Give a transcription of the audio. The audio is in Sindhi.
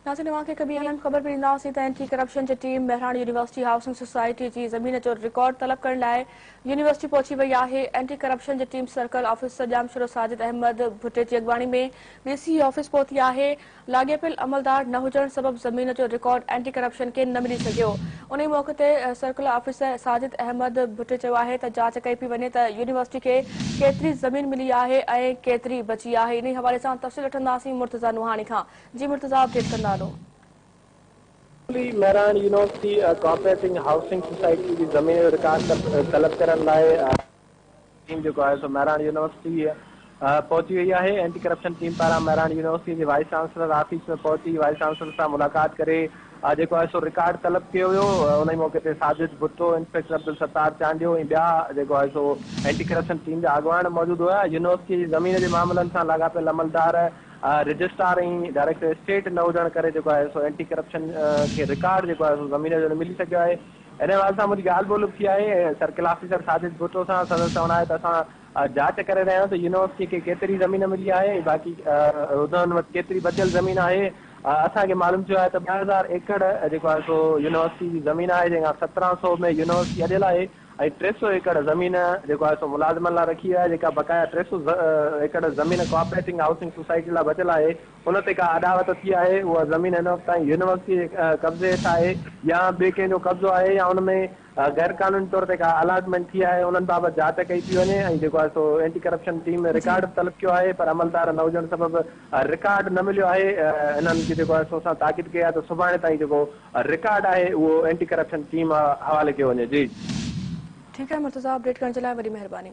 ناصر اوهان کي ڪبي اهم خبر به ڏيندا هئاسين ته اينٽي ڪرپشن جي team Mehran university housing society جي زمين جو رڪارڊ طلب ڪرڻ لاء يونيورسٽي پهچي وئي آهي اينٽي ڪرپشن جي team circle officer Jamshoro Sajid Ahmed Bhatti جي اڳواڻي ۾ ڊي سي آفيس پهتي آهي لاڳيپيل عملدار نه هجڻ سبب زمين جو رڪارڊ اينٽي ڪرپشن کي نه ملي سگهيو انهي موقعي تي سرڪلر آفيسر ساجد احمد ڀٽي چيو آهي ته جاچ ڪئي پئي وڃي ته يونيورسٽي کي ڪيتري زمين ملي آهي ۽ ڪيتري بچي آهي انهي حوالي سان تفصيل وٺنداسين مرتضيٰ نوحاڻي کان جي مرتضيٰ اپ ڊيٽ ڪندا هلو. سرڪلي Mehran university cooperating housing society جي زمين جو رڪارڊ طلب ڪرڻ لاء. ٽيم جيڪو آهي سو مهراڻ يونيورسٽيء پهچي وئي آهي، اينٽي ڪرپشن ٽيم پاران مهراڻ يونيورسٽيء جي وائيس چانسلر آفيس ۾ پهچي وائيس چانسلر سان ملاقات ڪري جيڪو آهي سو رڪارڊ طلب ڪيو ويو، انهي موقعي تي ساجد ڀٽو، انسپيڪٽر عبدالستار چانڊيو ۽ ٻيا جيڪو آهي سو اينٽي ڪرپشن ٽيم جا اڳواڻ موجود هيا، يونيورسٽيء جي زمين جي معاملن سان لاڳاپيل عملدار، رجسٽرار ۽ ڊائريڪٽر اسٽيٽ نه هجڻ ڪري جيڪو آهي سو اينٽي ڪرپشن کي رڪارڊ جيڪو آهي سو زمين جو نه ملي سگهيو آهي. ان حوالي سان منهنجي ڳالهه ٻولهه به ٿي آهي ۽ سرڪل آفيسر ساجد ڀٽو سان سندس چوڻ آهي ته اسان جاچ ڪري رهيا آهيون ته يونيورسٽيء کي ڪيتري زمين ملي آهي ۽ باقي انهن وٽ ڪيتري بچيل زمين آهي. اسان کي معلوم ٿيو آهي ته ٻه هزار ايڪڙ جيڪو آهي سو يونيورسٽيء جي زمين آهي جنهن کان سترهن سؤ ۾ يونيورسٽي اڏيل آهي ۽ ٽي سؤ ايڪڙ زمين جيڪو آهي سو ملازمن لاء رکي وئي آهي جيڪا بقايا ٽي سؤ ايڪڙ زمين ڪوآپريٽنگ هائوسنگ سوسائٽيء لاء بچيل آهي ان تي ڪا اڏاوت ٿي آهي، اها زمين هن وقت تائين يونيورسٽيء جي قبضي هيٺ آهي يا ٻئي ڪنهن جو قبضو آهي يا ان ۾ غير قانوني طور تي ڪا الاٽمينٽ ٿي آهي، انهن بابت جاچ ڪئي پئي وڃي ۽ جيڪو آهي سو اينٽي ڪرپشن ٽيم ۾ جي. رڪارڊ به طلب ڪيو آهي پر عملدار نه هجڻ سبب رڪارڊ نه مليو آهي، انهن کي جيڪو آهي سو اسان تاڪيد ڪئي آهي ته سڀاڻي تائين جيڪو رڪارڊ آهي اهو اينٽي ڪرپشن ٽيم حوالي ڪيو وڃي. جي. ٺيڪ آهي مرتضيٰ، اپڊيٽ ڪرڻ جي لاء وڏي مهرباني.